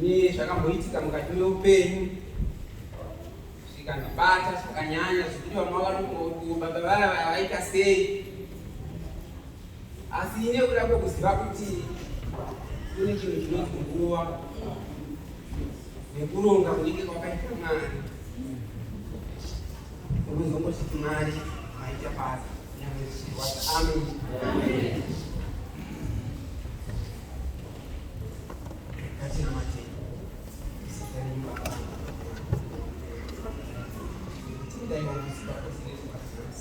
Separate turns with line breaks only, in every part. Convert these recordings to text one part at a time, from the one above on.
Ini zvakamboitika mukati meupenyu zvikandibata zvakanyanya zvekuti vamwe vakanokuti baba vaya vaya vaita sei Asi nekuda kwekuziva kuti kune chinhu chinonzi nguva nekuronga kunenge kwakaita mari unozongositi mari maita basa Amen.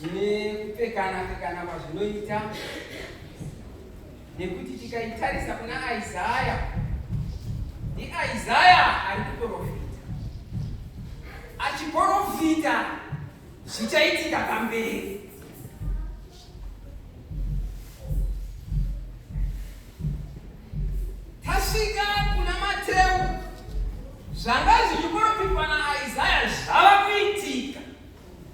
zvine kupfekana pfekana kwazvinoita nekuti tikaitarisa kuna Isaya ndiIsaya ari kuprofita achiprofita zvichaitika pamberi tasvika kuna Mateu zvanga zvichiprofitwa naIsaya zvava kuitika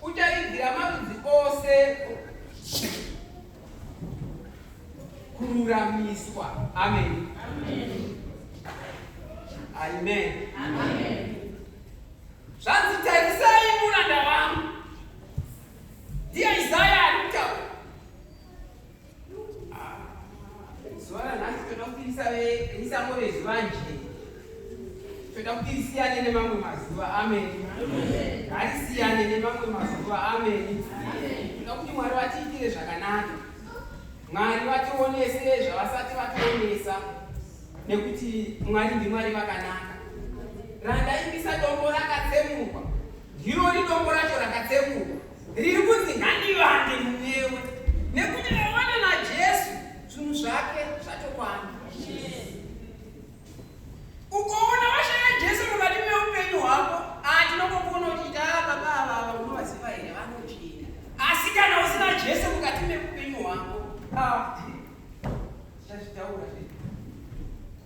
Kutaridzira marudzi ose kururamiswa. Amen. Amen. Zvanzi tarisai muranda wangu. Ndiye Isaya ari kutaura. zuva ranhasi toda kuti risangove zuva njee toda kuti risiyane nemamwe mazuva ameni ngarisiyane nemamwe mazuva ameni toda kuti mwari vatiitire zvakanaka mwari vationese zvavasati vationesa nekuti mwari ndimwari vakanaka randaimbisa dombo rakatsemurwa ndiro ridombo racho rakatsemurwa riri kunzi ngandivande munewe nekuti vavana najesu zvinhu zvake zvatokwana ukoona vashaya jesu mukati meupenyu hwako atinongokuona ah, uchiita ah, baba avava unovaziva here vanochiita asi kana usina jesu mukati meupenyu hwako ah, zvazvitaura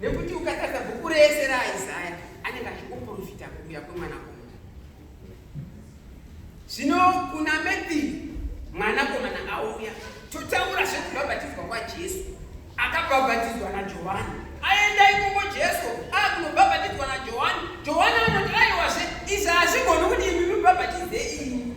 nekuti ukatadza bhuku rese raisaya anenge achikuprofita kuuya kwemwana komana zvino kuna methi mwana komana auya totaura zvekubhabhatidzwa kwajesu akabhabhatidzwa najohani aenda ikoko jesu akunobhabhatidzwa najohani johani anoti aiwazve izvi hazvigoni kuti imi mibhabhatidze imi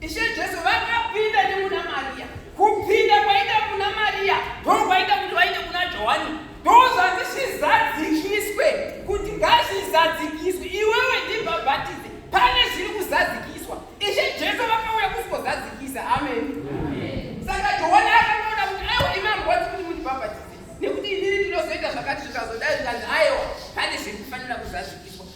Ishe Jesu vakapinda nemuna Maria. Kupinda kwaita kuna Maria ndokwaita kuti vaite kuna Johani ndozvanzi zvizadzikiswe kuti ngazvizadzikiswe iwewe ndibhabhatidze pane zviri kuzadzikiswa ishe jesu vakauya kusikozadzikisa amen saka johani akangoona kuti aiwa imi amgwati kuti mundibhabhatidze nekuti inini ndinozoita zvakati zvikazodai zvikanzi aiwa pane zviri kufanira kuzadzikiswa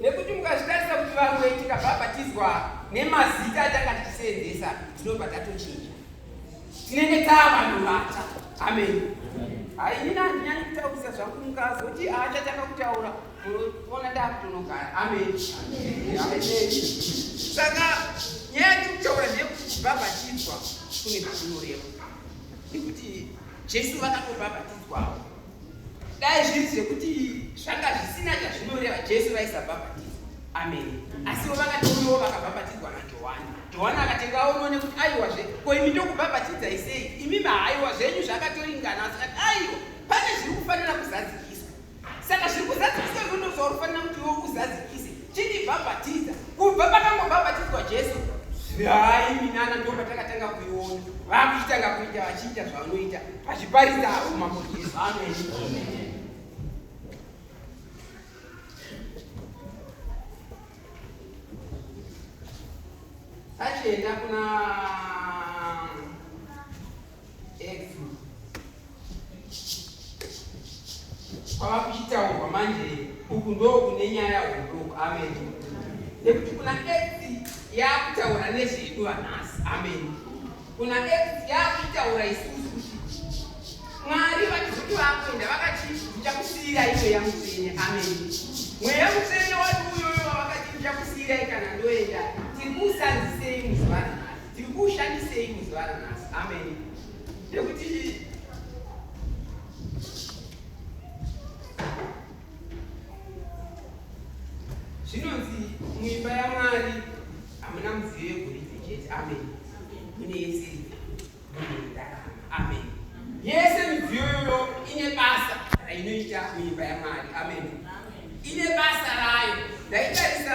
nekuti mukazvitarisa kuti vamwe tikabhabhatidzwa nemazita atanga tichiseenzesa tinobva tatochinja tinenge taa vanhu vatsva ameni hainini handinyanyi kutaurisa zvangu mukazoti haachatanga kutaura munoona ndakutonogara ameni saka nyaya ndikutaura ndeyekubhabhatidzwa kune zvakunoreva nekuti jesu vakatobhabhatidzwawo dai zviri zvekuti zvanga zvisina chazvinoreva jesu vaisabhabhatidzwa amen asiwo vakatouyawo vakabhabhatidzwa najohani johani akatenga aono nekuti aiwazve ko imi ndokubhabhatidzai sei imi mahaiwa zvenyu zvakatoringana asikati aiwa pane zviri kufanira kuzadzikiswa saka zviri kuzadzikiswa izvo ndozvauri kufanira kuti iwo uzadzikise chindibhabhatidza kubva pakangobhabhatidzwa jesu hai minana ndo patakatanga kuiona vakuchitanga kuita vachiita zvavanoita vachiparidza avo mambo jesu ameni tachienda kuna kwava kuchitaurwa manje uku ndokune nyaya huduku amen nekuti kuna edzi yakutaura nezvedu vanhasi amen kuna edzi yakutaura isusu kuti mwari vachikuti vakuenda vakachinja kusiyira iyo yamutsvene amen mweya mutsvene wati uyoyo wavakachinja kusiyira ikana ndoenda tiri kuusanzisei muzuva Ndikuushandisei muzuva ranhasi. Amen. Nekuti zvinonzi muimba yaMwari hamuna mudziyo yegoridhe chete. Amen. Mune yese Amen. Yese midziyo iyoyo ine basa rainoita muimba yaMwari. Amen. Ine basa rayo. Ndaitarisa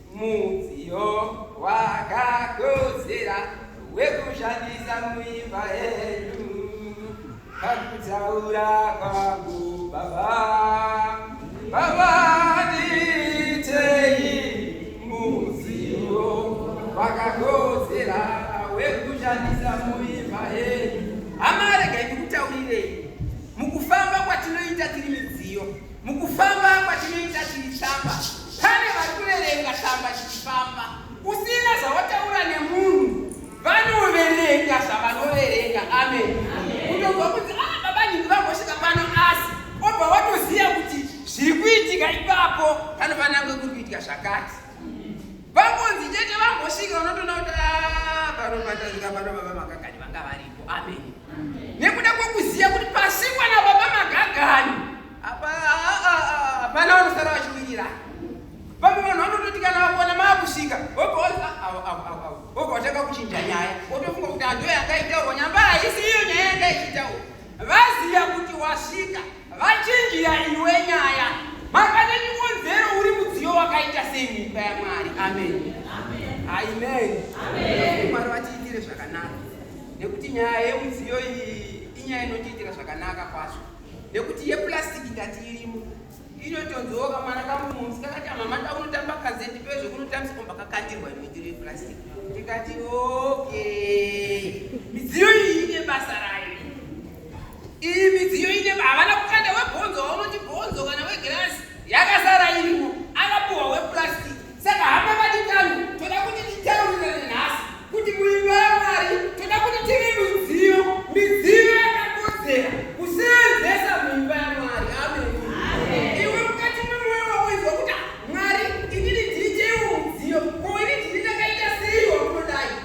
Mudziyo wakakodzera wekushandisa muimba yedu kakutaura kwangu baba baba ndiitei mudziyo wakakodzera wekushandisa muimba yedu amaregai ndikutaurirei mukufamba kwatinoita tiri midziyo Mukufamba kwatinoita tiri tsamba, pane vari kuverenga tsamba chichifamba. Usina zvawataura nemunhu, vanoverenga zvavanoverenga. Amen. Kutobva kuti ah, baba nyingi vambosvika pano, asi obva watoziva kuti zviri kuitika ipapo panofanira kunge kuri kuitika zvakati. Vangonzi chete vambosvika, unotoona kuti ah, pano matazika pano baba makagani vanga varipo. Amen. nekuda kwekuziva kuti pasingwa nababa magagani hapana vanosara vachiwirira vamwe vanhu vanototi kana vakona maakusvika ogovatanga kuchinja nyaya otofunga kuti handoyo yanga itaurwa nyamba haisi iyo nyaya yanga ichitaurwa vaziva kuti wasvika Vachinjira iwe nyaya. Makane chikonzero uri mudziyo wakaita sei muimba yaMwari. Amen. Amen. Amen. Mwari vatiitire zvakanaka. Nekuti nyaya yemudziyo iyi inyaya inotiitira zvakanaka kwazvo. Nekuti yeplastic ndati irimo. Inotonziwo kamwana kangu mumsi kakati mama takunotamba kazeti pezvo kunotambisa komba kakandirwa imwitiro yeplastic. Ndikati okay. Midziyo iyi ine basa rayo. Iyi midziyo ine havana kukanda webhonzo waunoti bhonzo kana wegirasi yakasara irimo akapuhwa wepurasitiki saka hama vadikano toda kuti titaurirane nhasi kuti muimba yamwari toda kuti tive midziyo midziyo yakakodzera kuseenzesa muimba yamwari ameni iwe mukati memoyo wako izwa kuti mwari inini ndiri cheiwo mudziyo ko ini ndiri ndakaita seiwa kunodai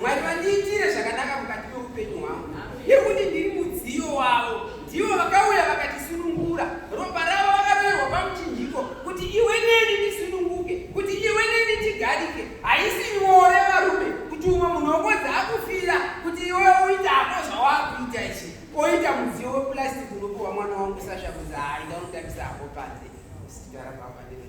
Mwari vandiitire zvakanaka mukati meupenyu hwangu nekuti ndiri mudziyo wavo. Ndivo vakauya vakatisunungura, ropa ravo vakaroerwa pamuchinjiko kuti iwe neni tisununguke, kuti iwe neni tigarike. Haisi nyore varume kuti umwe munhu wokodza akufira kuti iwe uita hako zvawakuita ichi oita mudziyo weplastic unopiwa mwana wangu sasha kuzi haida unotambisa hako panze usitara pamba nene